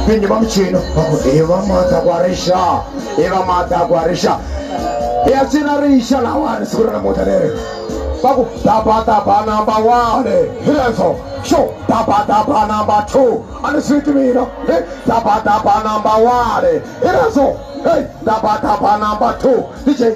vinyi va muchino i va mata ku arixa i va mata ku arixa ya cina rixa lawani siku ra namuta leri va ku dabadaba number one hi leswo xo dabadaba number two a ni swi ti mina dabadaba number one hi leswo heyi dabadaba number two dj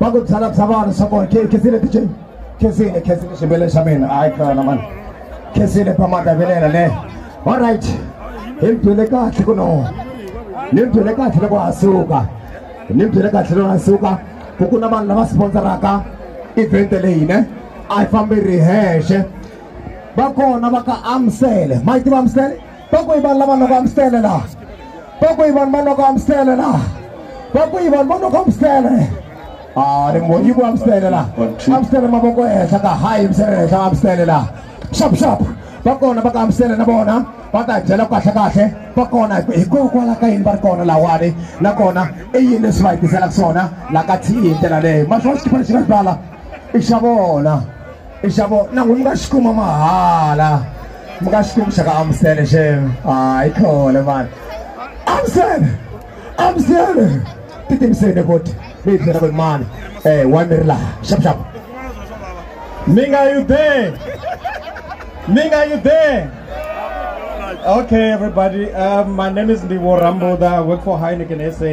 va ku byala bya vanhu swa kona khensile dj khensile khensile xibeleni xa mina hayi kana mani khensile pamata vilela le all right hi mi byele kahle ku no ni mi byele kahle loko ha suka ni mi byele kahle loko ha suka ku ku na vanhu lava sponsoraka event leyi ne a yi fambi ri hexe va kona va ka amsele ma yi tiva amsele Bakuyi vanhu lava loko amstele la. Bakuyi vanhu va loko amstele la. Bakuyi vanhu va loko amstele. Ah, ri mo yiku amstele la. Amstele mavoko ehenhla ka hayi misele ehenhla amstele la. Shap shap. Va kona va ka amstele na vona va ta byela kahle kahle va kona hikokwalaho ka yini va ri kona lawani nakona i yini leswi va hi tiselaka swona la ka thi hi ndlela leyo ma swi va xikhipha lexi nga swi bala i xa vona nxavo na n'wi mi nga xi kuma mahala mi nga xi kumi xa ka amusele xem hayi khole mani amusele amusele ti timiseni futhi mi yi byela ku ri mani um wa mi ri laha xapuxapu mi nga you there mi nga you there Okay, everybody. Um, my name is Ndivo Ramboda. I work for Heineken SA.